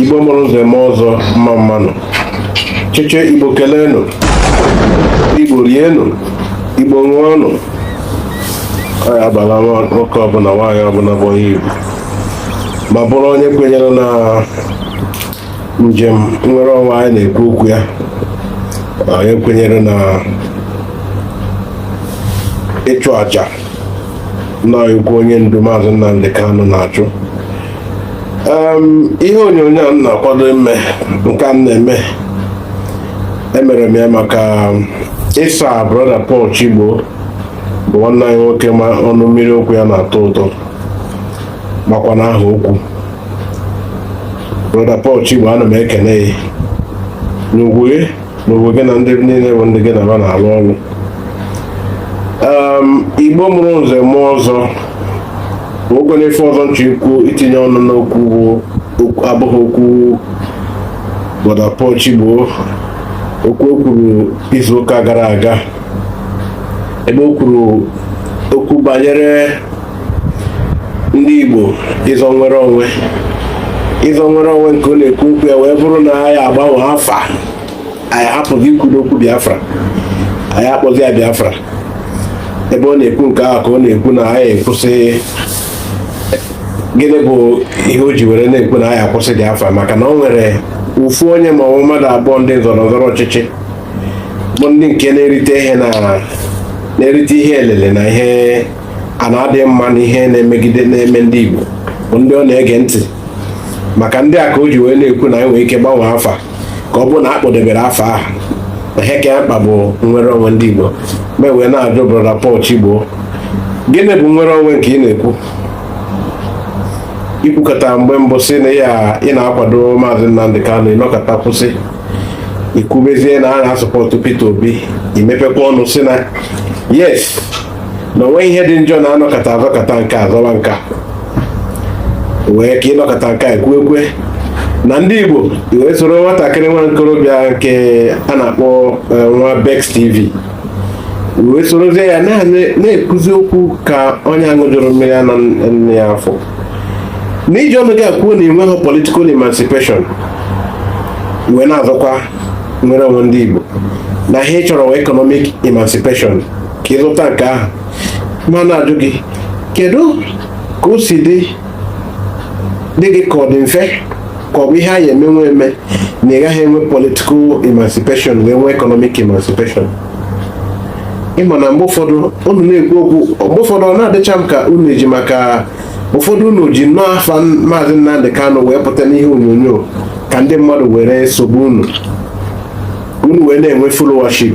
igbo mụrụ nze mụọ ọzọ mma mmanụ cheche igbo keleenụ igbo rienụ igbo ṅụọnụ anyị abala nwoke ọbụla nwaanyị ọbụla bụ onye igbo ma bụrụ onye kwenyere na njem nnwere onwe anyị na-ekwu okwu ya onye kwenyere na ịchụ aja nnukwu onye ndu maazị Nnamdi Kanu na-achụ ihe onyonyo a m na-akwado ime nke a na-eme emere m ya maka ịsa brọda Paul Chigbo bụ nwanne anyị nwoke ma ọnụ mmiri okwu ya na-atọ ụtọ makwa na-aha okwu brọda Paul Chigbo ana m ekene gị ngwuru be gị na ndị niile bụ ndị gị na ha na-alụ ọrụ ehm, igbo mụrụ nze mụọ ọzọ o nwekwanụ ife ọzọ m chọ ikwu itinye ọnụ n'okwu abụghị okwu brọda Paul Chigbo okwu o kwuru izuụka gara aga ebe o kwuru okwu banyere ndị Igbo ịzọ nnwere onwe ịzọ nnwere onwe nke ọ na-ekwu okwu ya wee bụrụ na anyị agbanwe afa anyị hapụzi ikwu okwu Biafra anyị akpọzi ya Biafra ebe ọ na-ekwu nke ahụ ka ọ na-ekwu na anyị kwụsị gịnị bụ ihe o ji were na-ekwu na anyị akwụsị Biafra maka na o nwere ofu onye ma ọ mmadụ abụọ ndị zọrọ zọrọ ọchịchị bụ ndị nke na-erite ihe na na-erite ihe elele na ihe a na-adịghị mma na ihe na-emegide na-eme ndị Igbo bụ ndị ọ na-ege ntị maka ndị a ka o ji wee na-ekwu na anyị nwere ike gbanwee afa ka ọ bụrụ na a kpọdebere afa ahụ na ihe ka ya mkpa bụ nnwere onwe ndị Igbo m wee na-ajụ brọda Paul Chigbo gịnị bụ nnwere onwe nke ị na-ekwu i kwukata mgbe mbụ sị na ị na-akwado maazị Nnamdi Kanu ị nọkata kwụsị i kwubezie na a na-asọpọtụ Peter Obi i mepekwa ọnụ sị na yes na o nwe ihe dị njọ na anọkata azọkata nke a azọwa nke a wee ka ị nọkata nke a kwue kwe na ndị Igbo i wee soro nwatakịrị nwa nkorobịa nke a na-akpọ e, nwa Bex TV i wee sorozie ya na-ekwuzi okwu ka onye aṅụjurọ mmiri ara nne ya afọ na i ji ọnụ gị akwuo na enweghị political emancipation wee na-azọkwa nnwere onwe ndị Igbo na ihe ị chọrọ economic emancipation ka ịzụta nke ahụ ma na-ajụ gị kedu ka o si dị dị gị ka ọ dị mfe ka ọ bụ ihe anyị emenwe eme na ị gaghị enwe political emancipation wee nwee economic emancipation ị ma na mgbe ụfọdụ unu na-ekwu okwu mgbe ụfọdụ ọ na-adịcha m ka unu eji maka ụfọdụ unu ji nnọọ afa maazị Nnamdị Kanụ wee pụta n'ihe onyonyo ka ndị mmadụ were sobe unu unu wee na-enwe followership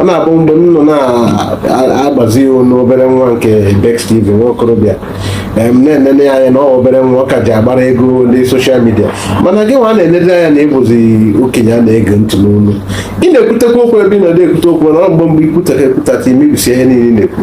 ọ na-abụ mgbe m nọ na-agbazi iwu n'obere nwa nke Bex TV nwa okorobịa m na-enene ya anya na ọ obere nwa ọ ka ji agbara ego ndị social media mana gị nwa na-enene anya na ị bụzi okenye a na-ege ntị n'olu ị na-ekwutekwa okwu ebe ị nọ na-ekwute okwu na ọ mgbe mgbe i kwutakata kwutakata i mebisie ihe niile ị na-ekwu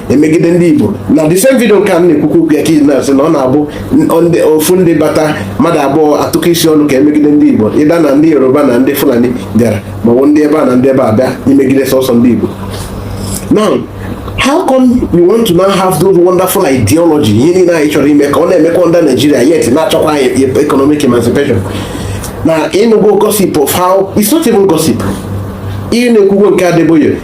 emegide ndị Igbo na the same video nke a na-ekwukwu okwu ya ka i ji na-asị na ọ na-abụ ofu ndị bata mmadụ abụọ atụkọ isi ọnụ ka e megide ndị Igbo either na ndị Yoruba na ndị Fulani bịara maọbụ ndị ebe a na ndị ebe a bịa imegide sọsọ ndị Igbo now how come you want to now have those wonderful ideology ihe niile anyị chọrọ ime ka ọ na-emekwa ndị Naijiria yet na-achọkwa economic emancipation na ị nụgo gossip of how it's not even gossip ihe na-ekwugo nke Adeboye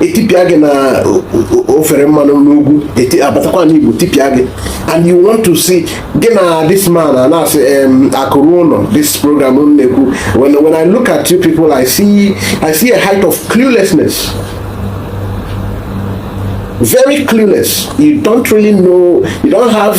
etipịa gị na ofere mmanụ n'ugwu abatakwa n'Igbo tipịa gị and you want to sị gị na this man a na-asị akụrụ ụlọ this program na-ekwu when, when I look at you people I see, I see a height of cluelessness very clueless you don't really know you don't have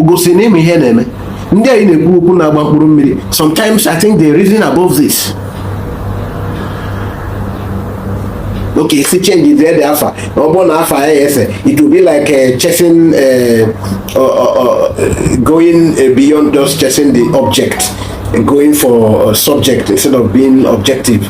igosi na ị ma ihe na-eme ndị anyị na-ekwu okwu na-agba mkpụrụ mmiri sometimes I think they reason above this okay sị chenjiere ya afa ọ bụrụ na afa ya ese it will be like uh, chasing uh, uh, uh, uh going uh, beyond just chasing the object going for a subject instead of being objective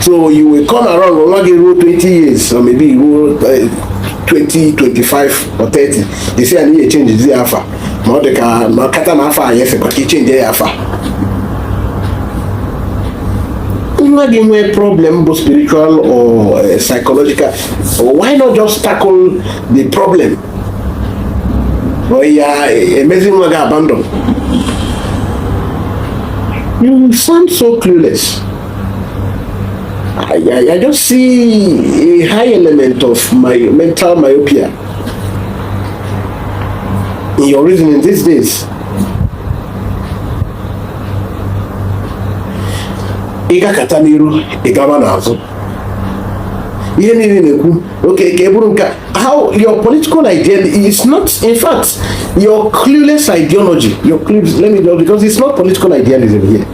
so you will come around nwa gị ruo 20 years or maybe ruo 20 25 or 30 they say anyị echenjiere ya afa ma ọ dị ka ma kata na afọ anyị efekwa ka ichenji ya afa nwa gị nwee problem bụ spiritual or eh, psychological why not just tackle the problem ya eh, e mezie nwa gị abandon you sound so clueless I, I, I just see a high element of my mental myopia in your reasoning these days. Ị gakata n'iru ị gaba n'azụ ihe niile ị na-ekwu okay ka e buru nke how your political idea is not in fact your clueless ideology your clueless, let me know because it's not political idealism here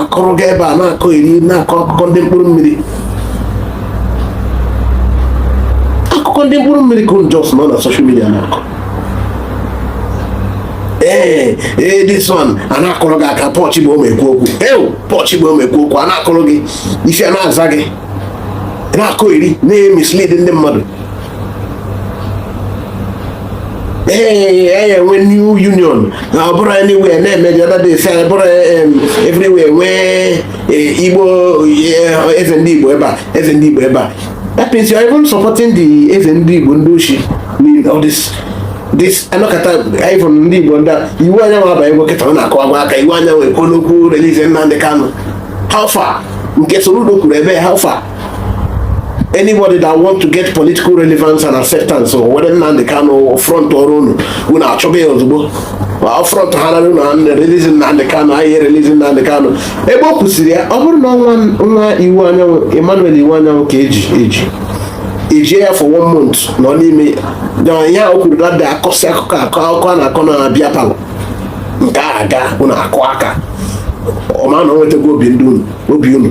akọrọ gị ebe a na-akọyeri na-akọ akụkọ ndị mkpụrụ mmiri akụkọ ndị mkpụrụ mmiri ka unu just nọ na social media na-akọ ee eh, ee eh, this one a na-akụrụ gị aka pọchị bụ omekwu okwu ewu pọchị bụ omekwu okwu a na-akụrụ gị isi a na-aza gị na-akọyeri na-emislead ndị mmadụ ee e nwee new union na ọ bụrụ anywhere na-eme the other day say bụrụ everywhere nwee eh, igbo eh, eze ndị igbo ebe a eze ndị igbo ebe a that means you are even supporting the eze ndị igbo ndị oshi all this this anọkọta even ndị igbo ndị Iwuanyanwu abalị bụ kịta ọ na-akọ agwa aka Iwuanyanwu ekwu n'okwu release Nnamdi Kanu how far nke Soludo kwuru ebe how far anybody that want to get political relevance and acceptance o weta Nnamdi Kanu front ọrụ unu unu achọba ya ozugbo front ha nara unu release Nnamdi Kanu anyị release Nnamdi Kanu ebe ọ kwụsịrị ya ọ bụrụ na nwa Iwuanyanwu Emmanuel Iwuanyanwu ka eji eji ejie ya for one month nọ n'ime ya o kwuru dada akọsị akụkọ akọ akụkọ a na-akọ na beer parlour nke a aga unu akụọ aka ọ ma na o nwetago obi ndị unu obi unu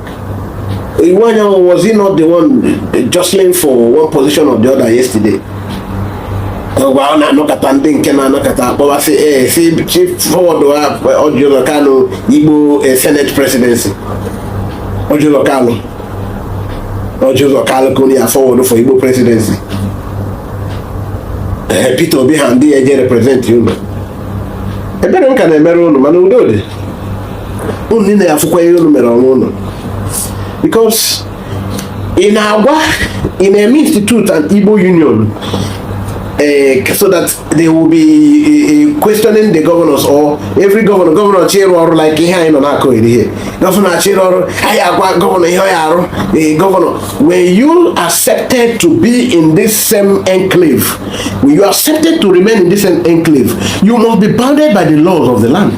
Iwuanyanwu, was he not the one jostling for one position or the other yesterday? Ngwa ọ na-anọkọta ndị nke na-anọkọta akpọbasị ee eh, si chief forward Orji Uzor Kalu Igbo eh, Senate presidency Orji Uzor Kalu Orji Uzor Kalu ka unu ya forward for Igbo presidency eh, Peter Obi ha ndị ya eje represent unu ebere ka m na-emere unu mana udo dị unu niile ya afụkwa ihe unu mere onwe unu because ị na-agwa ị na-eme institute an Igbo Union eh, so that they will be eh, eh, questioning the governors or every governor governor chọọ ịrụ ọrụ like ihe anyị nọ na-akọyeri ihe governor chọọ ịrụ ọrụ anyị agwa governor ihe ọ ya arụ governor when you accepted to be in this same enclave when you accepted to remain in this same enclave you must be bounded by the laws of the land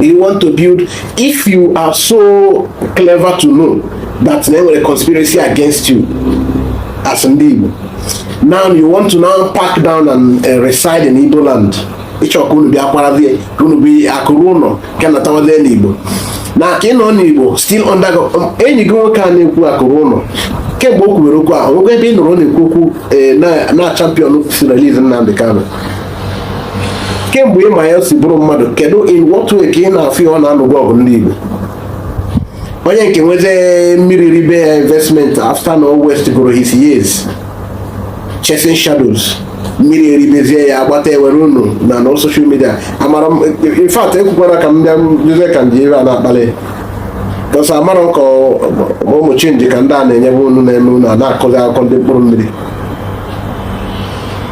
you want to build if you are so clever to know that na e nwere conspiracy against you as ndị Igbo now you want to now pack down and uh, reside in Igbo land ị chọ ka unu bịa kwarazie ka unu bụ akụ ruo ụlọ ka natawazie n'Igbo now ka ị nọ n'Igbo still under um, enyi gị nwoke a na-ekwu akụ ruo ụlọ kemgbe o kwubere okwu ahụ nwoke ebe ị nọrọ na-ekwu okwu eh, na champion sị release Nnamdi Kanu kemgbe ịma ya si bụrụ mmadụ kedu in what way ka ị na-afụ ya ọ na-anụkwa ọgụ ndị Igbo onye nke nwezi mmiri ribe ya investment after na ọ wastegoro his years chasing shadows mmiri eribezie ya agbata ewere unu na na social media amara in fact ekwukwara ka m bịa jụzie ka ndị ire a na-akpali bọsa amara ka ụmụ chinchi ka ndị a na-enye unu na-eme unu a na-akụzi akụkọ ndị mkpụrụ mmiri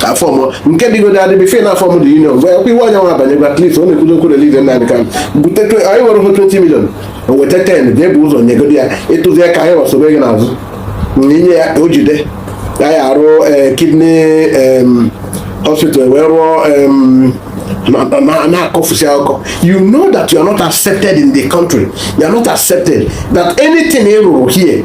ka a formụọ nke dịgode adịbị fair na a form the union gwa ekwe iwe onye nwa abanyegwa klif ọ na-ekwudo ka e release Nnamdi Kanu but anyị nwere hụ 20 million o weta 10 jee bu ụzọ nyegodi ya ịtụzi ya ka anyị wee sobe gị n'azụ na i nye ya o jide ya ya arụọ eh, kidney hospital wee rụọ na-akọfusi akụkọ you know that you are not accepted in the country you are not accepted that anything ị rụrụ here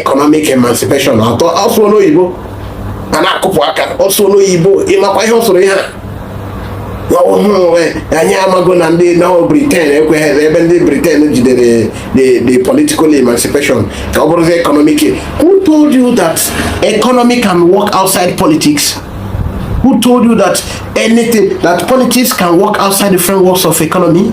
economic emancipation atọ ọ sụọ n'oyibo a na-akụpụ aka ọ sụọ n'oyibo ị makwa ihe ọ sụrụ ihe a ọhụrụ anyị amago na ndị nọ Britain ekweghị ebe ndị Britain jidere the political emancipation ka ọ bụrụzi economic who told you that economy can work outside politics who told you that anything that politics can work outside the frameworks of economy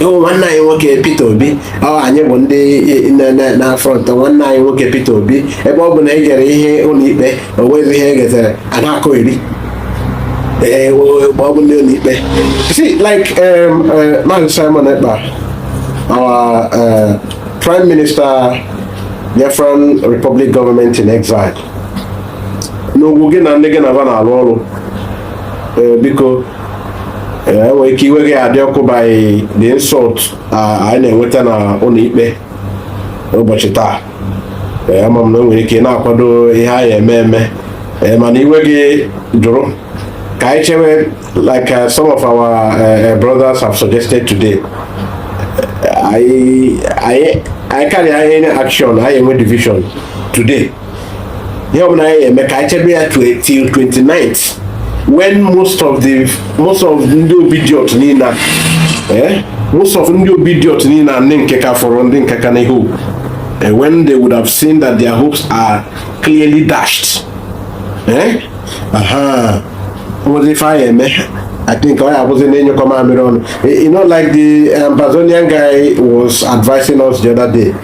ịhụ nwanne anyị nwoke Peter Obi ọ anyị bụ ndị na-afrọntụ nwanne anyị nwoke Peter Obi ebe ọ bụ na e gere ihe ụlọikpe o nweghị ihe e getere a na-akụ eri ee ma ọ bụ ndị ụlọikpe si like um, uh, Maazị Simon Ekpa our uh, Prime Minister Biafra Republic Government in Exile n'ugwu gị na ndị gị na ba na-alụ ọrụ biko e nwere ike iwe gị adị ọkụ by the insult anyị na-enweta na ụlọ ikpe ụbọchị taa ama m na i nwere ike na-akwado ihe anyị eme eme mana iwe gị jụrụ ka anyị chewe like uh, some of our uh, uh brothers have suggested today anyị carry any action anyị enwe division today ihe ọbụla anyị eme ka anyị chebe ya till 29th when most of the most of ndị Obidient niile eh most of ndị Obidient niile ndị nke ka fọrọ ndị nke ka na-hope eh, when they would have seen that their hopes are clearly dashed eh aha nwezi ife anyị eme I think I was in your command. You know, like the Ambazonian guy was advising us the other day.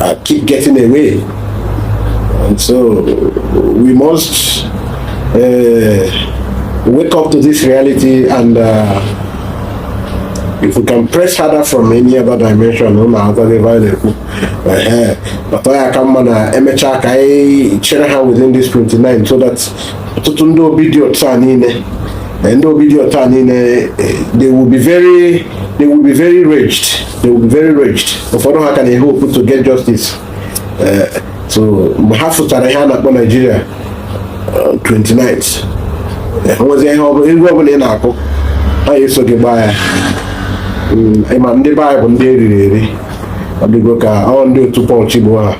uh, keep getting away. And so we must uh, wake up to this reality and uh, if we can press harder from any other dimension unu akwado ebe anyị na-ekwu bata ya ka mma na emechaa ka anyị chere ha within this 29 so that ọtụtụ ndị obi dị otu a niile ndị obi dị otu a niile they will be very they will be very raged they will be very enraged ụfọdụ ha ka na-e hope to get justice eh, so mgbe ha fụchara ihe a na-akpọ Nigeria 29 eh, eh, nwezi ihe ọbụla egwu ọbụla ị na-akụ ha eso gị gbaa ya hmm, ị ma ndị be anyị bụ ndị eriri eri ọ dịgo ka ọ ndị otu Paul Chigbo ha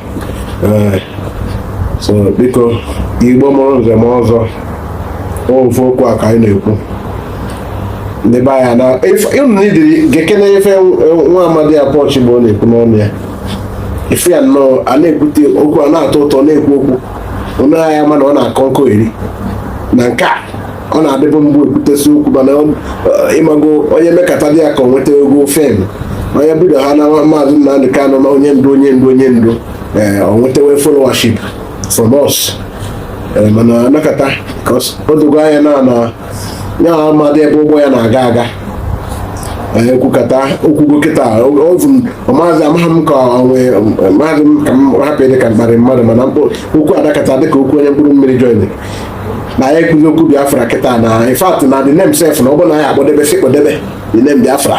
so biko igbo mụrụ nze mụọ ọzọ ofu okwu a ka anyị na-ekwu ndị be anyị na ịdịrị gekene ife nwa amadi a Paul Chigbo na-ekwu n'ọnụ ya ife ya nnọọ a na-ekwute okwu a na-atọ ụtọ na-ekwu okwu onye agha mana ọ na-akọ nkọ eri na nke a ọ na-adịbụ mbụ ekwutesi okwu mana ị mago onye mekata dị ya ka ọ nwetago fame onye bido ha na maazị Nnamdi Kanu na onye ndu onye ndu onye ndu ee eh, ọ nwetawe followership from us eh, mana a nọkata ka o dogo anya na na ya amadị ebe ụgbọ ya na-aga aga ekwukata o kwugo kịta ovu maazị amaghị m ka onwe maazị m ka m hapụ dị ka m kparị mmadụ mana okwu adakata dịka okwu onye mkpụrụ mmiri join na ya ekwuzi okwu biafra kịta na in fact na the name sef na ọ bụrụ na ya akpọdebe sị kpọdebe the name biafra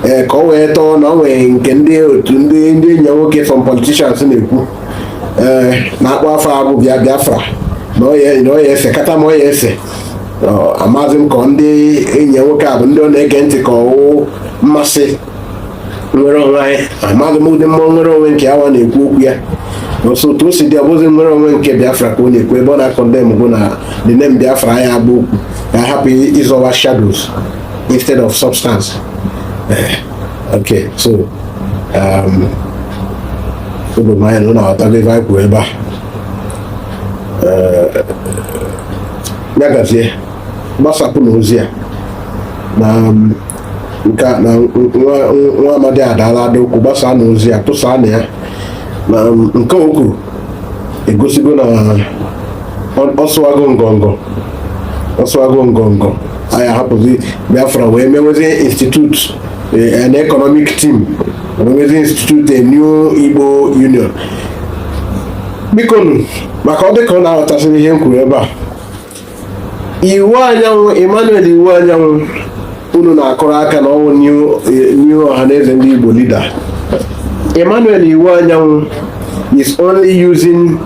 ee ka ọ wee tọọ na ọ nwee nke ndị otu ndị ndị enyi ya nwoke from politicians na-ekwu ee na-akpọ afa a bụ bịa biafra na ọ ya esekata ma ọ ya ese amazị m ka ndị enyi ya nwoke a bụ ndị ọ na-ege ntị ka ọ wụ mmasị nwere onwe anyị amazị m ụdị mmụọ nwere onwe nke a wa na-ekwu okwu ya so otu o si dị ọbụzi nwere onwe nke biafra ka ọ na-ekwu ebe ọ na-a condemn bụ na the name biafra ya bụ okwu ka hapụ ịzọwa shadows instead of substance eh. Okay, so um, o do m anya na unu aghọtago ife anyị kwuru ebe a Eh, ya gazie gbasapụnụ ozi a na um, nke a- na nwa nwa amadi adaala ada okwu gbasaanụ ozi a tụsaanụ ya na um, nke o kwuru egosigo na ọ sụwago ngọngọ ọ sụwago ngọngọ anyị ahapụzi biafra wee mewezie institute eh, an economic team mewezie institute a new igbo union bikonu maka ọ dịka unu aghọtasịrị ihe m kwuru ebe a Iwuanyanwụ Emmanuel Iwuanyanwụ unu na-akụrụ aka na ọ wụ new Ọhanaeze ndị Igbo leader Emmanuel Iwuanyanwụ is only using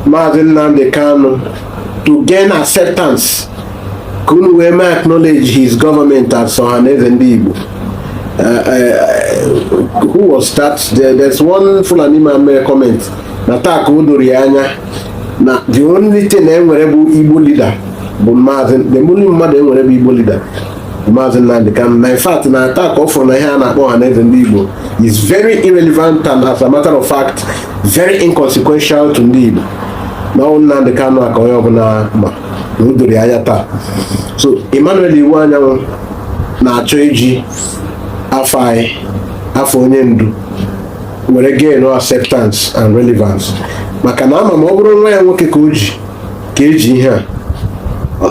Maazị Nnamdi Kanu to gain acceptance ka unu wee mee acknowledge his government as Ọhanaeze ndị Igbo Uh, uh, who was that? There, there's one Fulani man mere comment na taa ka o doro ya anya na the only thing na e nwere bụ Igbo leader bụ Maazị the only mmadụ e nwere bụ Igbo leader Maazị Nnamdi Kanu na in fact na taa ka ọ fụrụ na ihe a na-akpọ Ọhanaeze ndị Igbo is very irrelevant and as a matter of fact very inconsequential to ndị Igbo na ọ wụ Nnamdi Kanu a ka onye ọbụla ma na o doro anya taa so Emmanuel Iwuanyanwụ na-achọ iji afa onye afa onye ndu were gain acceptance and relevance maka na ama m ọ bụrụ nwa ya nwoke ka o ji ka e ji ihe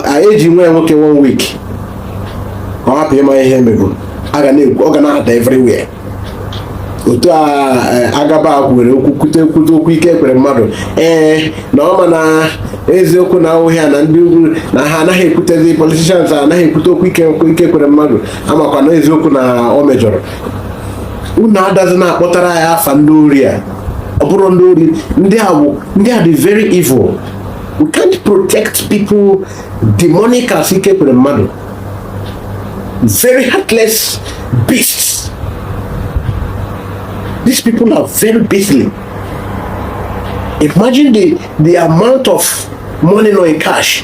a e ji nwa ya nwoke one week ka ọ hapụ ịma ihe emeburu ọ ga na-ada everywhere otu a e, a gaba kwuwere okwu kwute kwute okwu Ike Ekweremadu ee na ọ ma na eziokwu na ahụhịa na ndị ugwu na ha anaghị ekwutezi politicians anaghị ekwute okwu Ike Ike Ekweremadu a makwa na eziokwu na ọ mejọrọ unu adazi na-akpọtara ya afa ndị ori a ọ bụrụ ndị ori ndị a bụ ndị a dị very evil we can't protect people demonic as Ike Ekweremadu very heartless beasts these people are very beastly imagine the the amount of money nọ in cash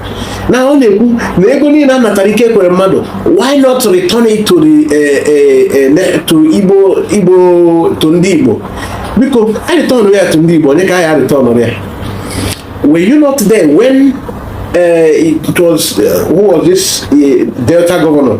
na ọ na-ekwu na ego niile a natara Ike Ekweremadu why not return it to the eh, eh, eh, to Igbo Igbo to ndị Igbo biko a return ya to ndị Igbo onye ka a ya return ya were you not there when uh, it was uh, who was this uh, Delta governor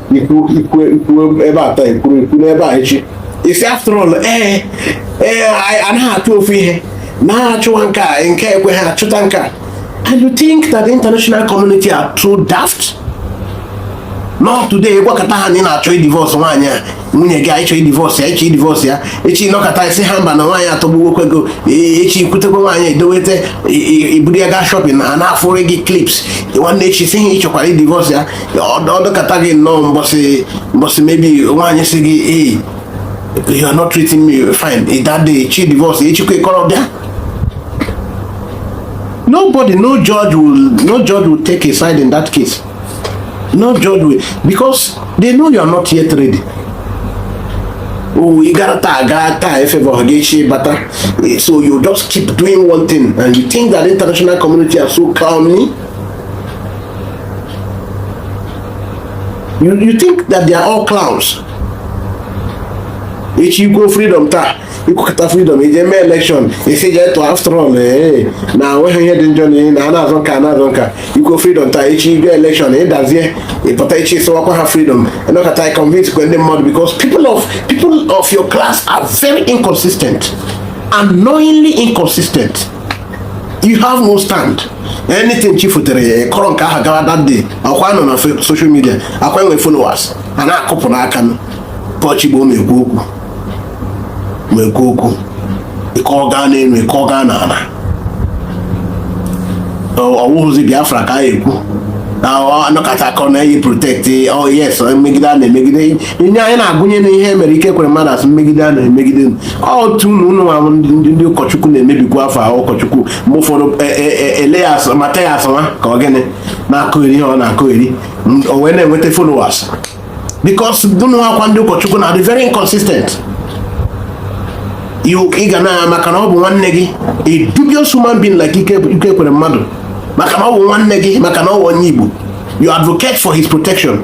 ị kwụ ị kwụ ị kwụ ebe a taa ị kwụrụ ị kwụ n'ebe a echi ị sị after all ee ee a naghị achụ ofu ihe na a chụwa nke a nke ekwe ha achụta nke a and you think that the international community are too daft no today gwakọta ha na ị na-achọ ịdivorce nwaanyị a nwunye gị na ị chọọ ịdivorce ya ị chọọ ịdivorce ya echi nọkọta ị sị ha mba na nwaanyị atọgbuwokwa gị echi i kwutekwa nwaanyị edoweta i buru ya gaa shopping ha na-afụrụ gị clips nwanne echi sị ha ị chọkwara ịdivorce ya ọdọkata gị nnọọ mbọsị mbọsị mebi nwaanyị si gị ee you are not treating me fine ị dade chi divorce echikwa ịkọrọ bịa nobody no judge will no judge will take a side in that case no judge will because they know you are not yet ready oh you gotta tag gotta tag if ever Hageshi bata so you just keep doing one thing and you think that international community are so clowny you, you think that they are all clowns echi i kwu freedom taa i kwukọta freedom i je mee election ị sị je tụọ after all ee na o nweghị ihe dị njọ na ihe na a na-azụ nka na-azụ nka i kwu freedom taa echi i je election ị dazie ị pụta echi sịwakwa ha freedom ị nọkọta ị convincekwa ndị mmadụ because people of people of your class are very inconsistent annoyingly inconsistent you have no stand anything chi fotere ị kọrọ nke ahụ gawa that day ọkwa ị nọ na social media ọkwa i nwe followers a na-akụpụ n'aka na chigbo ma ekwu okwu ma ekwu okwu ị kọọ gaa n'elu ị kọọ gaa n'ala ọ wụhụzi biafra ka a ekwu anọkata akọ na anyị protect oh yes mmegide a na-emegide ihe anyị na-agụnye na ihe mere Ekweremadu asị mmegide a na-emegide otu unu unu nwa ndị ụkọchukwu na-emebikwa afa ụkọchukwu ma ụfọdụ e, e, e, Elias Matthias ka ọ gịnị na-akọgheri ihe ọ na-akọgheri o wee na-enweta followers because unu nwa ndị ụkọchukwu are very inconsistent ị ga na maka na ọ bụ nwanne gị a dubious human being like Ekweremadu maka na ọ bụ nwanne gị maka na ọ bụ onye Igbo you advocate for his protection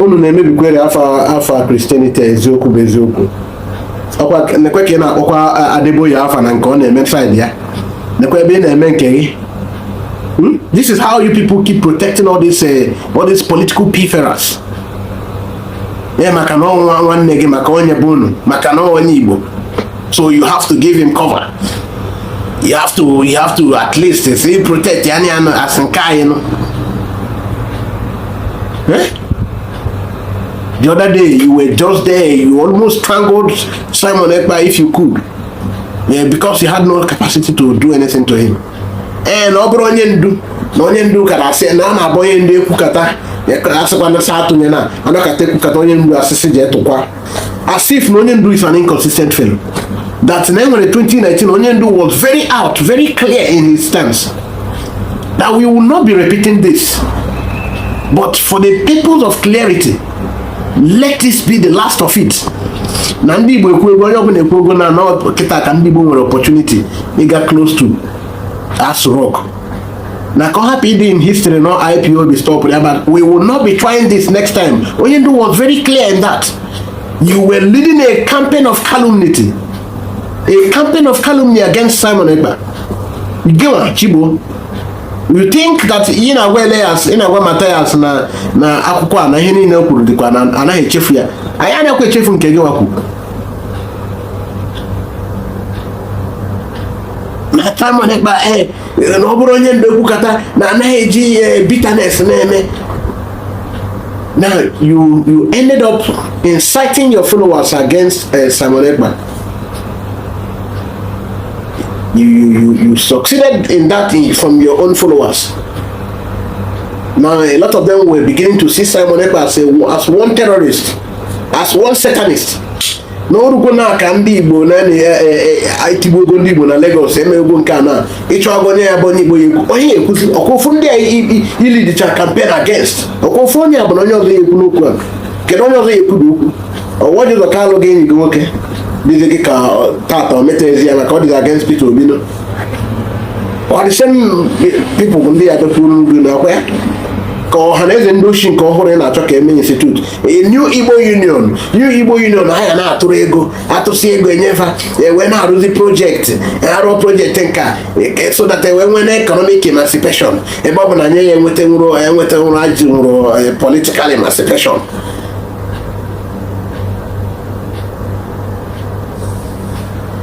unu na-emebikwere afa afa christianity eziokwu bụ eziokwu ọkwa nekwe ka ị na-akpọkwa adeboye afa na nke ọ na-eme side ya nekwe ebe ị na-eme nke gị hmm? this is how you people keep protecting all these eh, all these political pilferers ee maka na ọ wụ nwanne gị maka onye be unu maka na ọ wụ onye igbo so you have to give him cover you have to you have to at least say protect ya na anyị asị nke anyị nụ eh? the other day you were just there you almost strangled Simon Ekpa if you could yeah, because you had no capacity to do anything to him ee eh, na ọ bụrụ onye ndu na onye ndu kara asị na a na-abụ onye ndu ekwukata asịkwa na sa atụnye na anọkata ekwukata onye ndu asịsị ji etụkwa as if na onye ndu is an inconsistent fellow that na e were 2019 onye ndu was very out very clear in his stance that we will not be repeating this but for the purpose of clarity let this be the last of it na ndị Igbo ekwugo onye ọbụla ekwugo na na kịta ka ndị Igbo nwere opportunity ịga close to Aso Rock na ka ọ hapụ ịdị in history na ipob stop ya but we will not be trying this next time onye ndu was very clear in that you were leading a campaign of calumnity a campaign of calumny against simon ekpa gịnwa chigbo you think that ị na-agwa Elias ị na-agwa Matthias na na akwụkwọ a na ihe niile o kwuru dịkwa na anaghị echefu ya anyị anaghịkwa echefu nke gị wa kwu na Simon Ekpa eh, na ọ bụrụ onye ndu ekwukata na anaghị eji eh, bitterness na-eme now you you ended up inciting your followers against uh, Simon Ekpa you, you you you succeeded in that from your own followers now a lot of them were beginning to see Simon Ekpa as a as one terrorist as one satanist na o rugo na aka ndị igbo na e, e, e, etigbugo ndị igbo na Lagos emego nke a na ịchọ agụ onye ya bụ onye igbo ya ekwu onye ekwuzi ọkwa ndị a ilidicha campaign against ọkwa ofu onye a bụ na onye ọzọ ya ekwu n'okwu a kedu onye ọzọ ya ekwu n'okwu ọ Orji Uzor Kalu gị enyi gị nwoke dịzi gị ka tata o ezi ya maka ọ dịzi against Peter Obi no ọ dị same people ndị ya dọkwuru n'ugwu na akwa ya ka Ohanaeze ndị ochie nke ọhụrụ ị na-achọ ka eme institute new igbo union new igbo union ha ga na-atụrụ ego atụsị ego enye fa e wee na-arụzi projekti arụ projekti nka e, so that e wee nwee na economic emancipation ebe ọ bụ na anyị ya enweta nwụrụ enweta nwụrụ ajị nwụrụ e, political emancipation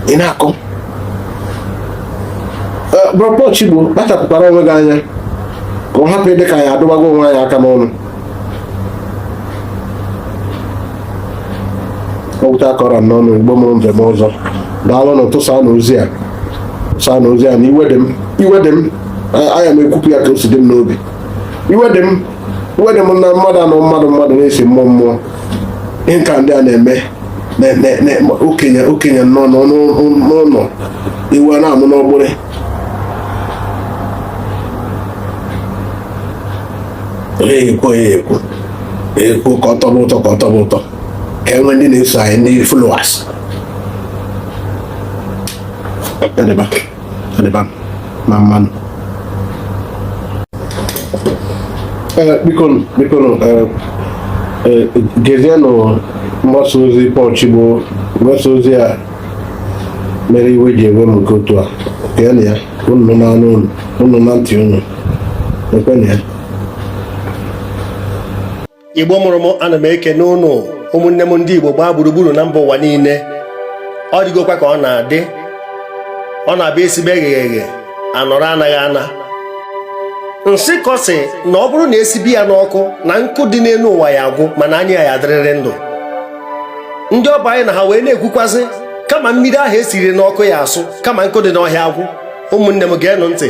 ị na-akọ bro Paul Chigbo kpachapụkwara onwe gị anya ka ọ hapụ ịdị ka anyị adụbago onwe anyị aka n'ọnụ okwute akọrọ n'ọnụ igbo mụrụ m ndeme ọzọ daalụnụ tụsaanụ ozi a tụsaanụ ozi a na iwe dị m iwe dị m aya m ekwupụ ya ka o si dị m n'obi iwe dị m iwe dị m na mmadụ anọ mmadụ mmadụ na-esi mmụọ mmụọ ihe nka ndị a na-eme okenye okenye nọ n'ụlọ ewu na-amụ n'ọgbụrị onye ekwu onye ekwu ekwu ka ọ tọba ụtọ ka ọ tọba ụtọ ka e nwee ndị na-eso anyị ndị followers adịba adịba mma mana biko biko gezienụ mgbasa ozi Paul Chigbo mgbasa ozi a mere iwe ji ewe m nke otu a geenụ ya unu na-anụ unu unu na ntị unu ekwenụ ya igbo mụrụ m ana m ekene unu ụmụnne m ndị igbo gbaa gburugburu na mba ụwa niile ọ dịgokwa ka ọ na-adị ọ na-abụ e sibe eghere eghe anọrọ anaghị ana nsịkọ sị na ọ bụrụ na e sibe ya n'ọkụ na nkụ dị n'elu ụwa ya agwụ mana anyị ya adịrịrị ndụ ndị ọ bụ anyị na ha wee na-ekwukwazị kama mmiri ahụ e siri n'ọkụ ya asụ kama nkụ dị n'ọhịa agwụ ụmụnne m geenụ ntị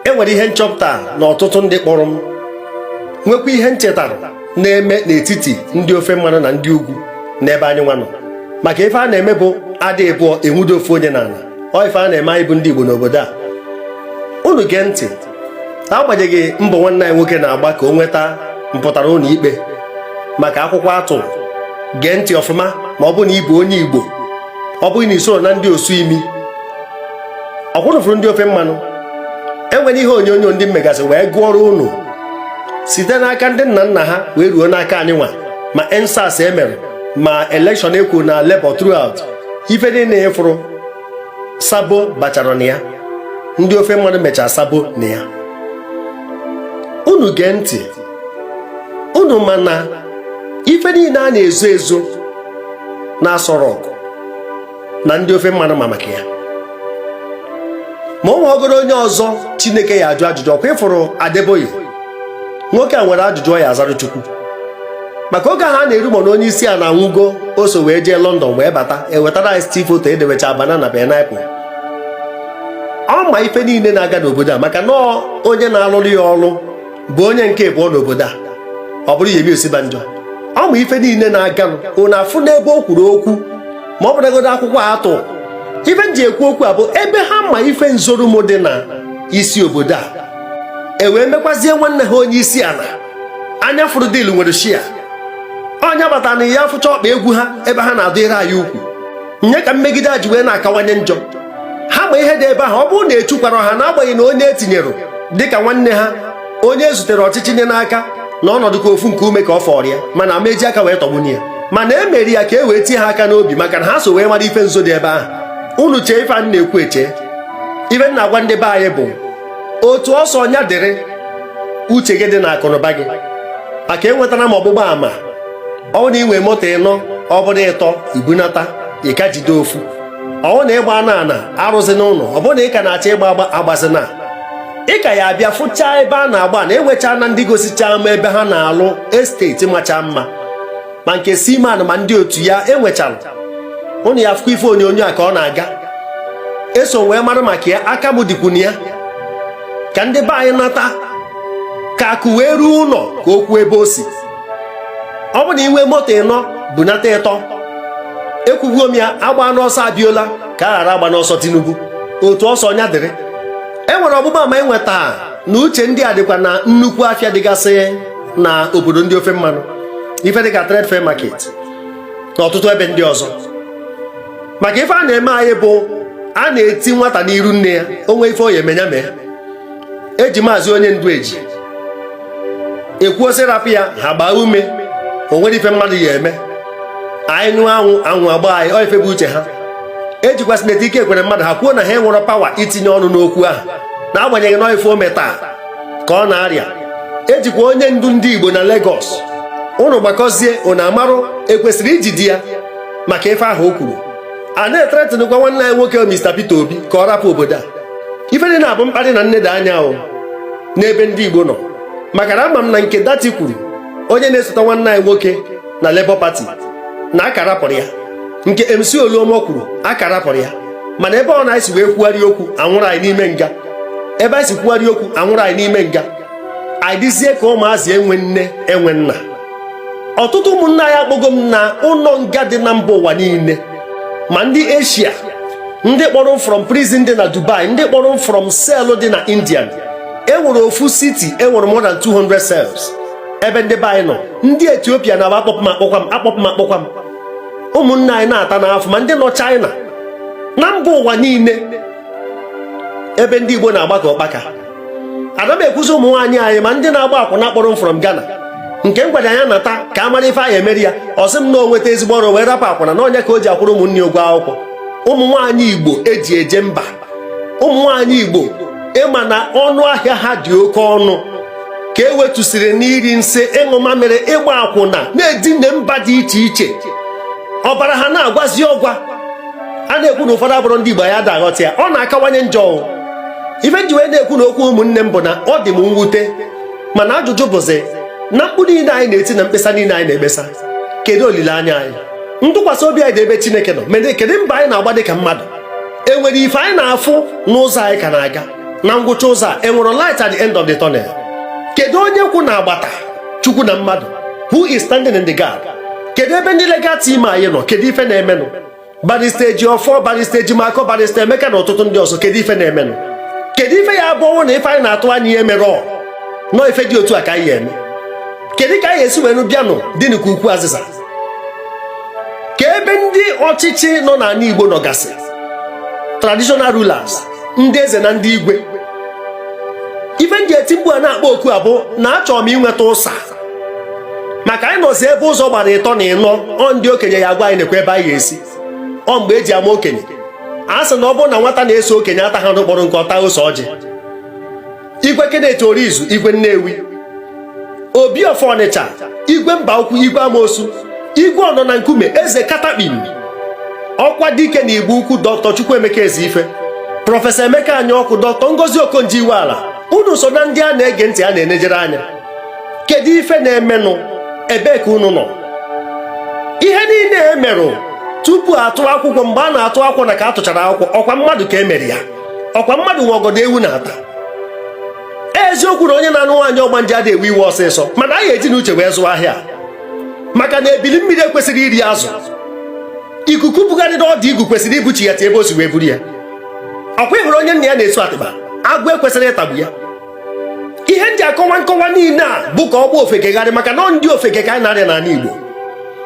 e nwere ihe nchọpụta na ọtụtụ ndị kpọrọ m nwekwa ihe m chetara na-eme n'etiti ndị ofe mmanụ na ndị ugwu n'ebe anyị nwa nọ maka ife a na-eme bụ a dị ịbụọ e nwudo ofu onye n'ala ọ ife a na-eme anyị bụ ndị Igbo n'obodo a unu gee ntị agbanyeghị mbọ nwanne anyị nwoke na-agba ka o nweta mpụtara ụlọ ikpe maka akwụkwọ atụ gee ntị ọfụma ma ọ bụ na ịbụ onye Igbo ọ bụghị na isoro na ndị osu imi ọkwa ụnụ fụrụ ndị ofe mmanụ enwere ihe onyonyo ndị m megasị wee gụọrọ ụnụ site n'aka ndị nna nna ha wee ruo n'aka anyị nwa ma EndSARS emere ma elekshọn ekwu na Labour throughout ife niile ịfụrụ sabo bachara na ya ndị ofe mmanụ mechaa sabo na ya unu gee ntị unu ma na ife niile a na-ezo ezo na Aso Rock na ndị ofe mmanụ ma maka ya ma ọ nwegoro onye ọzọ chineke ya ajụ ajụjụ ọkwa ịfụrụ Adeboye nwoke a nwere ajụjụ ọ ya azara chukwu maka oge ahụ a na-e-rumour na onye isi ana anwụgo o so wee jee London wee bata ewetara anyị still foto edewecha banana pineapple ọ ma ife niile na-aga n'obodo a maka na onye na-alụrụ ya ọrụ bụ onye nke abụọ n'obodo a ọ bụrụ Yemi Osibanjo ọ ma ife niile na-aga unu afụ n'ebe o kwuru okwu ma ọ bụrụgodo akwụkwọ atụ ife m ji ekwu okwu a bụ ebe ha ma ife nzorumo dị na isi obodo a e wee mekwazie nwanne ha onye isi ala anya fụrụ deal nwere share onye bata na ya fụcha ọkpa egwu ha ebe ha na-adụ ire anyị ukwu nya ka mmegide a ji wee na-akawanye njọ ha ma ihe dị ebe ahụ ọ bụrụ na echukwara ha n'agbanyeghị na onye etinyere dịka nwanne ha onye e zutere ọchịchị nye n'aka na ọnọdụ ka ofu nku ume ka ọ fọrọ ya mana a ma eji aka wee tọgbunye ya mana e mere ya ka e wee tie ha aka n'obi maka na ha so wee mara ife nzo dị ebe ahụ unu chee ife anyị na-ekwu eche ife m na-agwa ndị be anyị bụ otu ọsọ nya dịrị uche gị dị na akụnụba gị maka enwetara m ọgbụgba ama ọ bụ na inwe moto ịnọ ọ bụrụ ịtọ i bunata ị ka jide ofu ọ bụ na ịgba ana ana arụzina ụlọ ọ bụrụ na ị ka na-achọ ịgba agba agbazina ị ka ya abịa fụchaa ebe a na-agba ana enwecha na ndị gosichaa m ebe ha na-alụ estate macha mma ma nke Siman ma ndị otu ya enwechara ụnụ ya afụkwa ife onyonyo a ka ọ na-aga eso wee mara maka ya aka m dịkwu na ya ka ndị be anyị nata ka akụ wee ruo ụlọ ka o kwuo ebe o si ọ bụ na inwe moto ịnọ bunata ịtọ ekwubuo m ya agbana ọsọ Abiola ka a ghara agbana ọsọ Tinubu otu ọsọ nya dịrị e nwere ọgbụgba ama enweta na uche ndị a dịkwa na nnukwu afịa dịgasị na obodo ndị ofe mmanụ ife dịka trade fair market na ọtụtụ ebe ndị ọzọ maka ife a na-eme anyị bụ a na-eti nwata n'iru nne ya o nwee ife ọ ya-eme nya mee eji maazị onye ndu eji ekwuo sị rapụ ya ha gbaa ume o nwere ife mmadụ ya eme anyị nyụọ anwụ anwụ agba anyị ọ ife bụ uche ha ejikwa Senator Ike Ekweremadu ha kwuo na ha enwerọ power itinye ọnụ n'okwu ahụ n'agbanyeghị na ife o metaa ka ọ na-arịa ejikwa onye ndu ndị Igbo na Lagos ụnụ gbakọzie ụnụ amarụ ekwesịrị ijide ya maka ife ahụ o kwuru a na-ethreatenkwa nwanne anyị nwoke Mr. Peter Obi ka ọ rapụ obodo a ife nine a bụ mkparị na nneda anya ahụ n'ebe ndị Igbo nọ maka na ama m na nke Datti kwuru onye na-esota nwanne anyị nwoke na Labour Party na a ka rapụrụ ya nke MC Oluomo kwuru a ka rapụrụ ya mana ebe ọ na anyị si wee kwugharị okwu a nwụrụ anyị n'ime nga ebe anyị si kwugharị okwu a nwụrụ anyị n'ime nga anyị dịzie ka ụmụazị enwe nne enwe nna ọtụtụ ụmụnna anyị akpọgo m na ụlọ nga dị na mba ụwa niile ma ndị Asia ndị kpọrọ from prison dị na Dubai ndị kpọrọ from cell dị na Indian enwere ofu city enwere more than 200 cells ebe ndị be anyị nọ ndị Ethiopia na-aba akpọpụ m akpọkwa m akpọpụ m akpọkwa m ụmụnna anyị na-atanụ afụfụ ma ndị nọ China na mba ụwa niile ebe ndị Igbo na-agba ka ụkpaka ana m ekwuzi ụmụ nwaanyị anyị ma ndị na-agba akwụna kpọrọ m from Ghana nke m gwara ya nata ka a mara ife anyị emere ya ọ sị m na o nweta ezigbo ọrụ wee rapụ akwụna na ọ nya ka o ji akwụrụ ụmụnne ụgwọ akwụkwọ ụmụ nwaanyị Igbo eji eje mba ụmụ nwaanyị Igbo ị ma na ọnụ ahịa ha dị oke ọnụ ka e wetusịrị n'iri nsị ịṅụ mamịrị ịgba akwụna na-edina mba dị iche iche ọbara ha na-agwazi ọgwa a na-ekwu na ụfọdụ abụrọ ndị Igbo anyị ada aghọta ya ọ na-akawanye njọ ife m ji wee na-ekwunụ okwu ụmụnne m bụ na ọ dị m mwute mana ajụjụ bụzi na mkpu niile anyị na-eti na mkpesa niile anyị na-ekpesa kedu olileanya anyị ntụkwasị obi anyị dị ebe Chineke nọ mere kedu mbọ anyị na-agba dị ka mmadụ e nwere ife anyị na-afụ n'ụzọ anyị ka na-aga na ngwụcha ụzọ a enwere light at the end of the tunnel kedu onye kwụ na agbata chukwu na mmadụ who is standing in the gap kedu ebe ndị legal team anyị nọ kedu ife na-emenụ Barrister Ejiofor Barrister Ejimakor Barrister Emeka na ọtụtụ ndị ọzọ kedu ife na-emenụ kedu ife ya-abụ ọ bụrụ na ife anyị na-atụ anya ya emerọ na ife dị otu a ka anyị ya-eme kedu ka anyị esi wee nụ bịanụ dịnụ ka ukwu azịza kee ebe ndị ọchịchị nọ n'anị Igbo nọgasị traditional rulers ndị eze na ndị igwe ife m ji eti mkpu a na-akpọ oku a bụ na achọrọ m inweta ụsa maka anyị nọzi ebe ụzọ gbara ịtọ na ịnọ ọ ndị okenye ya agwa anyị nekwa ebe anyị ga-esi ọ mgbe eji ama okenye a sị na ọ bụrụ na nwata na-eso okenye ataghị n'ụkpọrọ nke ọ taa ose ọjị igwe Kenneth Orizu igwe Nnewi obi of Ọnịcha igwe Mbaukwu igwe Amosu igwe ọnọ na nkume eze Katakpim Ọkwadike na Igbo Ukwu dọktọ Chukwuemeka Ezeife prọfesọ Emeka Anyaọkụ dọktọ Ngozi Okonjo Iweala unu so na ndị a na-ege ntị a na-enejere anya kedu ife na-emenụ ebee ka unu nọ ihe niile e merụ tupu a tụọ akwụkwọ mgbe a na-atụ akwụkwọ na ka a tụchara akwụkwọ ọkwa mmadụ ka e mere ya ọkwa mmadụ nwe ọgọdọ ewu na-ata eziokwu na onye na-anụ nwaanyị ọgbanje adị ewe iwe ọsịsọ mana anyị eji n'uche wee zụọ ahịa maka na ebili mmiri ekwesịrọ iri azụ ikuku bugharịrị ọdụ igu kwesịrị ibuchi ya ti ebe o si wee buru ya ọkwa ị hụrụ onye nna ya na-esu atịba agwọ ekwesịrọ ịtagbu ya ihe m ji akọwa nkọwa niile a bụ ka ọ gba ofeke gharị maka na ọ ndị ofeke ka anyị na-arịa n'ana Igbo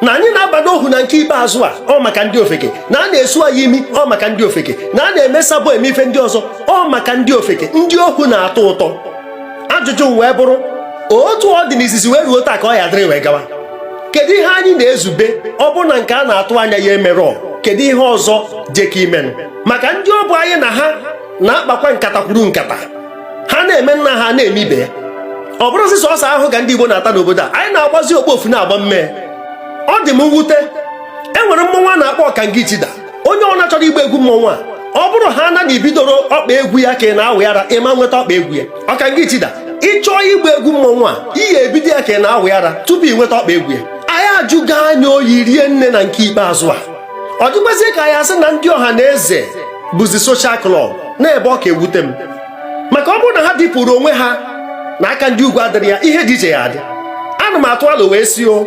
na anyị na-aba n'ohu na nke ikpeazụ a ọ maka ndị ofeke na a na-esu anyị imi ọ maka ndị ofeke na a na-eme sabo eme ife ndị ọzọ ọ maka ndị ofeke ndị ohu na-atọ ụtọ ajụjụ m wee bụrụ otu ọ dị n'izizi wee ruo taa ka ọ ya-adịrị wee gawa kedu ihe anyị na-ezube ọ bụrụ na nke a na-atụ anya ya emerọ kedu ihe ọzọ jeka imenụ maka ndị ọ bụ anyị na ha na-akpakwa nkata kwuru nkata ha na-eme nna ha na-eme ibe ya ọ bụrụzi sọsọ ahụhụ ka ndị Igbo na-ata n'obodo a anyị na-agbazi okpofu na-agba mmee ọ dị m mwute e nwere mmọnwụ a na-akpọ ọkanga ichida onye ọna chọrọ igba egwu mmọnwụ a ọ bụrụ haana na i bidorọ ọkpa egwu ya ka ị na-awị ara ị ma nweta ọkpa egwu ya ọkanga ichida ị chọọ igba egwu mmọnwụ a ị ya-ebido ya ka ị na-awị ara tupu i nweta ọkpa egwu ya anyị ajụgo anya oyi rie nne na nke ikpeazụ a ọ dịkwazie ka a ya-asị na ndị Ọhanaeze bụzi soshal klọb na ebe ọ ka ewute m maka ọ bụrụ na ha dịpụrụ onwe ha na aka ndị ugwu adịrị ya ihe dị iche ya adị ana m atụ alo wee sị o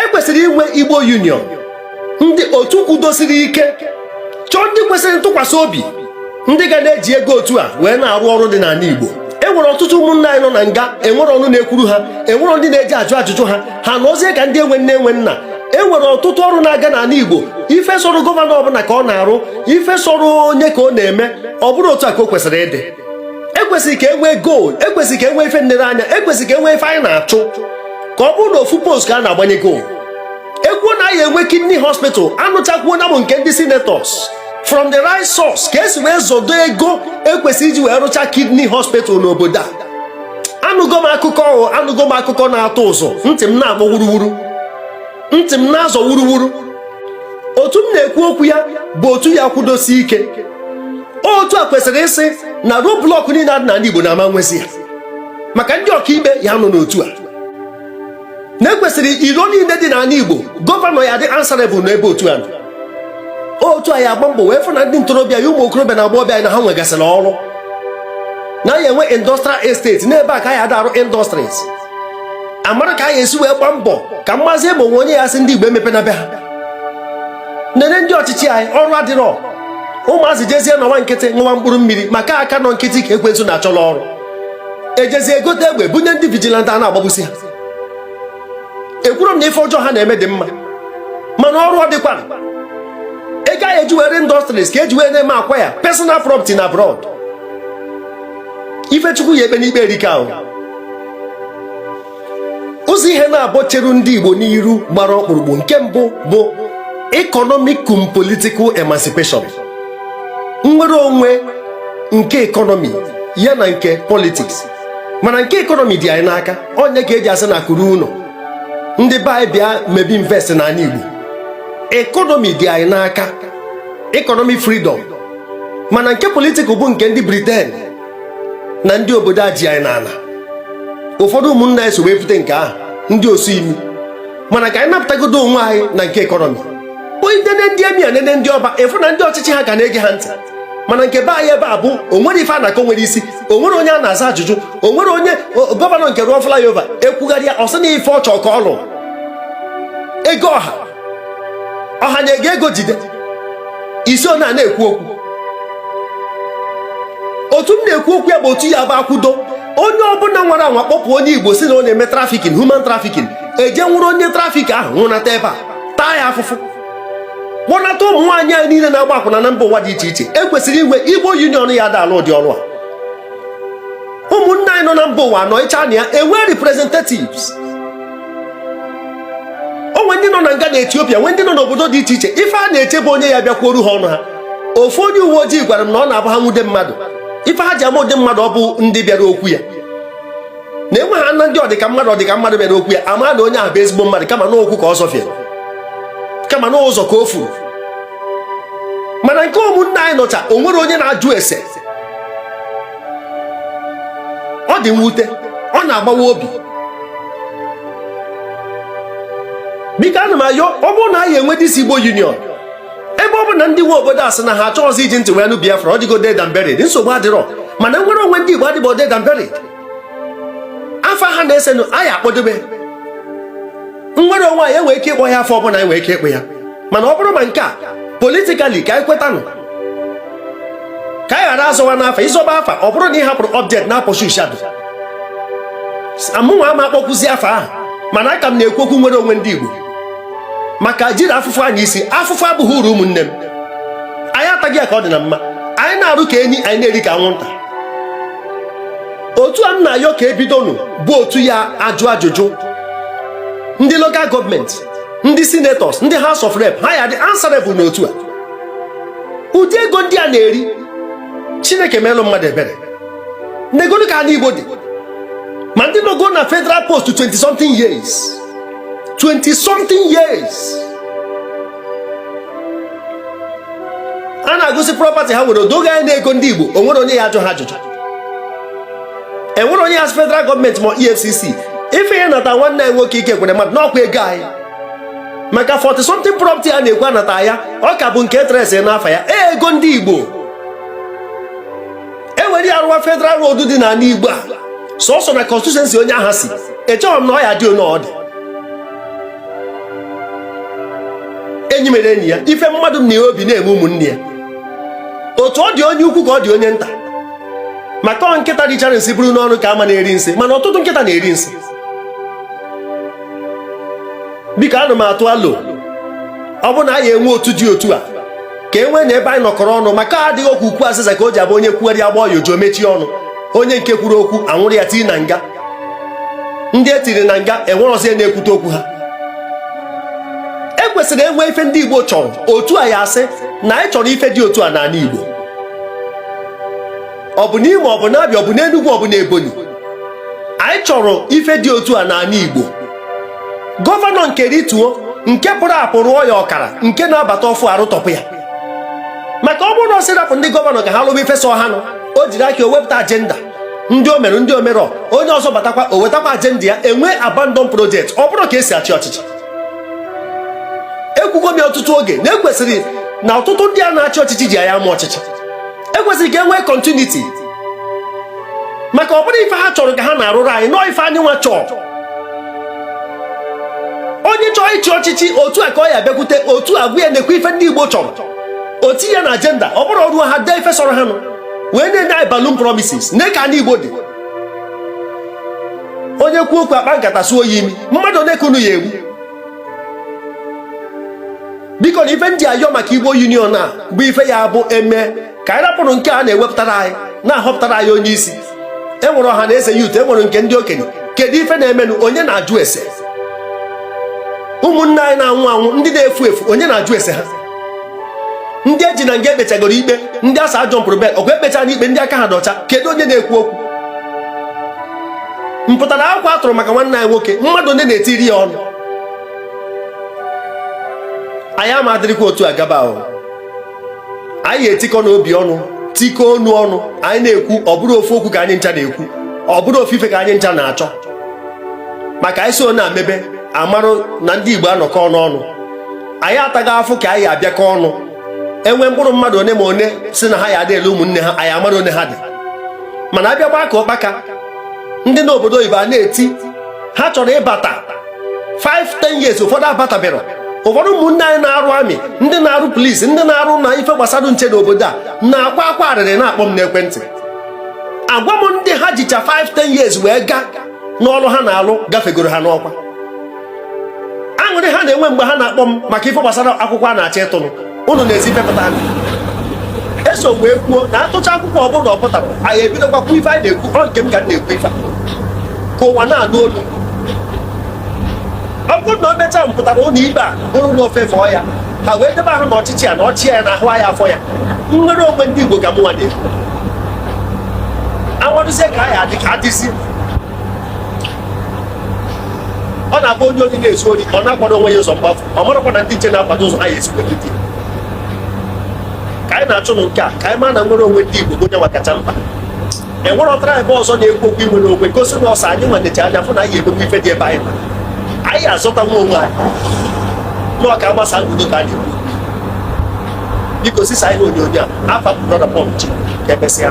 e kwesịrị inwe Igbo union ndị otu kwudosiri ike chọọ ndị kwesịrị ntụkwasị obi ndị ga na-eji ego otu a wee na-arụ ọrụ dị n'ana Igbo e nwere ọtụtụ ụmụnna anyị nọ na nga enwerọ ọnụ na-ekwuru ha enwerọ ndị na-eje ajụ ajụjụ ha ha anọzie ka ndị enwe nne enwe nna e nwere ọtụtụ ọrụ na-aga n'ana Igbo ife sọrọ gọvanọ ọbụna ka ọ na-arụ ife sọrọ onye ka ọ na-eme ọ bụrọ otu a ka o kwesịrị ịdị e kwesịrị ka e nwee goal e kwesịrị ka e nwee ife nnereanya e kwesịrị ka e nwee ife anyị na-achụ ka ọ bụrụ na ofu post ka a na-agbanye goal e kwuo na anyị enwe kidney hospital anụchakwuo na ọ bụ nke ndị senators from the right source ka e si wee zodo ego e kwesịrị iji wee rụcha kidney hospital n'obodo a anụgo m akụkọ ọhụ anụgo m akụkọ na-atụ ụjọ ntị m na-akpọ wuruwuru ntị m na-azọ wuruwuru otu m na-ekwu okwu ya bụ otu ya-akwụdosi ike otu a kwesịrị ịsị na roadblock niile a dị n'ana Igbo na a ma nwezi ya maka ndị ọkaikpe ya-anọ n'otu a na ekwesịrị iro niile dị n'ala Igbo gọvanọ ya adị answerable n'ebe otu a nọ otu a ya agba mbọ wee fụ na ndị ntorobịa ya ụmụ okorobịa na agbọghọbịa anyị na ha nwegasịrị ọrụ na ya enwe industrial estate n'ebe a ka ya ada arụ industries amara ka anyị esi wee gbaa mbọ ka m mazie ma o nwe onye ya asị ndị Igbo emepena be ha nene ndị ọchịchị anyị ọrụ adịrọ ụmụazị jezie nọwa nkịtị ṅụwa mkpụrụ mmiri maka aka nọ nkịtị ka ekwensu na-achọla ọrụ ejezie egote egbe bunye ndị vigilante a na-agbagbusi ha ekwuro m na ife ọjọọ ha na-eme dị mma mana ọrụ ọ dịkwa ego a ya eji wee rụ industries ka eji wee na-eme acquire personal property na abroad ife Chukwu ya ekpe n'ikpe erika ahụ ụzọ ihe naabọ cheru ndị Igbo n'iru gbara ọkpụrụkpụ nke mbụ bụ economic cum political emancipation nnwere onwe nke economy ya na nke politics mana nke economy dị anyị n'aka ọ nya ka eji asị na akụ ruo ụlọ ndị be anyị bịa mebe invest n'ala Igbo economy dị anyị n'aka economic freedom mana nke political bụ nke ndị Britain na ndị obodo a ji anyị n'ala ụfọdụ ụmụnna anyị so wee pụta nke ahụ ndị osu imi mana ka anyị napụtagodo onwe anyị na nke economy onye nene ndị emir nene ndị ọba ị fụ na ndị ọchịchị ha ka na-ege ha ntị mana nke be anyị ebe a bụ o nwere ife a na-akọ nwere isi o nwere onye a na-aza ajụjụ o nwere onye gọvanọ nke rụọ flyover ekwugharịa ọ sị na ife ọ chọ ka ọ lụ ego ọha ọha nye gị ego jide isi ọ na-ekwu okwu otu m na-ekwu okwu ya bụ otu ya bụ akwụdo onye ọbụla nwara anwa kpọpụ onye Igbo sị na ọ na-eme trafficking human trafficking eje nwụrụ onye trafficker ahụ nwụnata ebe a taa ya afụfụ kpọnata ụmụ nwaanyị anyị niile na-agba akwụna na mba ụwa dị iche iche ekwesịrị inwe Igbo Union ya ada alụ ụdị ọrụ a ụmụnna anyị nọ na mba ụwa nọcha na ya enwe representatives o nwe ndị nọ na nga na Ethiopia nwee ndị nọ n'obodo dị iche iche ife ha na-eche bụ onye ya bịakwuoru ha ọnụ ha ofu onye uwe ojii gwara m na ọ na-abụ ha nwụde mmadụ ife ha ji ama ụdị mmadụ ọ bụ ndị bịara okwu ya na enwe ha na ndị ọdịka mmadụ ọdịka mmadụ bịara okwu ya ama na onye ahụ bụ ezigbo mmadụ kama na ụkwụ ka ọ zọfie kama na ụzọ ka o furu mana nke ụmụnna anyị nọcha o nwere onye na-ajụ ese ọ dị mwute ọ na-agbawa obi biko ana m ayọ ọ bụrụ na anyị enwe this Igbo Union ebe ọ bụ na ndị nwe obodo a sị na ha achọghịzi iji ntị wee nụ Biafra ọ dịgo dead and buried nsogbu adịrọ mana nnwere onwe ndị Igbo adịbọ dead and buried afa ha na-esenụ anyị akpọdobe nnwere onwe anyị enwere ike ịkpọ ya afa ọbụla anyị nwere ike ịkpọ ya mana ọ bụrụ ma nke a politically ka anyị kwetanụ ka anyị ghara azọwa n'afa ịzọba afa ọ bụrụ na ị hapụrụ object na-apọshu shadow amụnwa ama akpọkuzi afa ahụ mana aka m na-ekwu okwu nnwere onwe ndị Igbo maka ejirọ afụfụ anya isi afụfụ abụghị uru ụmụnne m anyị ataghị ya ka ọ dị na mma anyị na-arụ ka enyi anyị na-eri ka anwụnta otu a m na-ayọ ka e bidonụ bụ otu ya-ajụ ajụjụ ndị lokal gọọmenti ndị senators ndị house of rep ha ya-adị answerable n'otu a ụdị ego ndị a na-eri chineke meelụ mmadụ ebere negodu ka anị igbo dị ma ndị nọgo na federal post 20 something years 20 something years a na-agụsị property ha nwere o doo gị anya na ego ndị igbo o nwere onye ya-ajụ ha ajụjụ e nwere onye ya-asị federal gọọmenti mọ efcc ife ha nata nwanne anyị nwoke Ike Ekweremadu na ọkwa ego anyị maka 40 something property a na-ekwu anata ya ọ ka bụ nke etresi n'afa ya ego ndị igbo e were ya rụwa federal road dị n'anị igbo a sọsọ na constituency onye ahụ si echehọ m na ọ ya-adị onye ọ dị enyi mere enyi ya ife mmadụ na ya obi na-eme ụmụnne ya otu ọ dị onye ukwu ka ọ dị onye nta maka ọ nkịta richara nsị buru n'ọnụ ka a ma na-eri nsị mana ọtụtụ nkịta na-eri nsị biko ana m atụ alo ọ bụ na a ya-enwe otu dị otu a ka e nwee na ebe anyị nọkọrọ ọnụ maka adịghị okwu ukwu azịza ka o ji abụ onye kwugharịa a gbọọ ya ụja o mechie ọnụ onye nke kwuru okwu a nwụrụ ya tii na nga ndị e tiri na nga enwerọzi onye na-ekwute okwu ha ekwesịrị enwe ife ndị Igbo chọrọ otu a ya-asị na anyị chọrọ ife dị otu a n'anị Igbo ọ bụ n'Imo ọ bụ n'Abịa ọ bụ n'Enugwu ọ bụ n'Ebonyi anyị chọrọ ife dị otu a n'anị Igbo gọvanọ nke rituo nke pụrụ apụ rụọ ya ọkara nke na-abata ọfụ arụtọpụ ya maka ọ bụrụ na ọ sị rapụ ndị gọvanọ ka ha lụba ife sọọ ha nụ o jiri aka o wepụta ajenda ndị o merụ ndị o merọ onye ọzọ batakwa o wetakwa ajenda ya enwe abandon project ọ bụrọ ka e si achị ọchịchị ekwugo m ya ọtụtụ oge na ekwesịrị na ọtụtụ ndị a na-achị ọchịchị jee ya mụọ ọchịchị ekwesịrị ka e nwee continuity maka ọ bụrọ ife ha chọrọ ka ha na-arụrụ anyị na ọ ife anyịnwa chọọ onye chọọ ịchị ọchịchị otu a ka ọ ya-abịakwute otu a gwa ya nekwa ife ndị Igbo chọrọ o tii ya na ajenda ọ bụrọ o ruo ha dee ife sọrọ ha nụ wee na-enye anyị balloon promises nee ka anị Igbo dị onye kwuo okwu a kpaa nkata suo ya imi mmadụ one ka unu ya-egbu biko na ife m ji ayọ maka igbo union a bụ ife ya bụ eme ka anyị rapụrụ nke a na-ewepụtara anyị na-ahọpụtara anyị onye isi e nwere ọha na eze yut e nwere nke ndị okenye kedu ife na-emenụ onye na-ajụ ese ụmụnne anyị na-anwụ anwụ ndị na-efu efu onye na-ajụ ese ha ndị eji na nga ekpechagoro ikpe ndị asa ajọ mpụrụ bel ọgwa ekpecha na ikpe ndị aka ha dị ọcha kedu onye na-ekwu okwu mpụtara akwụkwọ a tụrụ maka nwanne anyị nwoke mmadụ ndị na-etiri ya ọnụ anyị ama adịrịkwa otu agaba ahụ anyị etikọnụ obi ọnụ tikọ onu ọnụ anyị na-ekwu ọ bụrụ ofu okwu ka anyị ncha na-ekwu ọ bụrụ ofu ife ka anyị ncha na-achọ maka anyị so na-amebe amarụ na ndị Igbo anọkọ ọnụ ọnụ anyị ataghị afụ ka anyị abịakọ ọnụ enwe mkpụrụ mmadụ one ma one sị na ha ya adịrụ ụmụnne ha anyị amara one ha dị mana abịakwa aka ụkpaka ndị nọ obodo oyibo a na-eti ha chọrọ ịbata 5-10 years ụfọdụ abatabero ụfọdụ ụmụnne anyị na-arụ amị ndị na-arụ polisi ndị na-arụ na ife gbasara nche n'obodo a na-akwa akwa arịrị na-akpọ m n'ekwentị agwa m ndị ha jicha 5-10 years wee kaa n'ọlụ ha na-alụ gafegoro ha n'ọkwa aṅụrị ha na-enwe mgbe ha na-akpọ m maka ife gbasara akwụkwọ a na-achọ ịtụrụ ụnụ na-ezi pepụta anyị eso wee kwuo na atụcha akwụkwọ ọ bụrụ na ọ pụtara anyị ebidokwa kwuo ife anyị na-ekwu ọ nke m ka m na-ekwu ife ka ụwa na-anụ olu ọ bụrụ na o mechaa mpụtara ụlọ ikpe a bụrụ na ofe fọọ ya ha wee debe ahụ na ọchịchị ya na ọchị ya na ahụ ya afọ ya nnwere onwe ndị Igbo ka mụnwa na-ekwu amadụzie ka anyị adịzi ọ na-abụ onye ohi na-ezu ori ọ na-akwado onwe ya ụzọ mgbafu ọ marakwa na ndị nche na-akwado ụzọ ha ya esikwa jide ka anyị na-achụ nụ nke a ka anyị maa na nnwere onwe ndị Igbo bụ onye kacha mkpa enwerọ tribe ọzọ na-ekwu okwu inwere onwe gosi na ọ sọ anyị nwa nechi anya fụ na anyị emegbu ife dị ebe anyị ma anyị azọta nwa onwe anyị nọọ ka agbasa ndụ ka anyị ekwu biko zisa anyị onyonyo a afa brọda pọmchi ka emesịa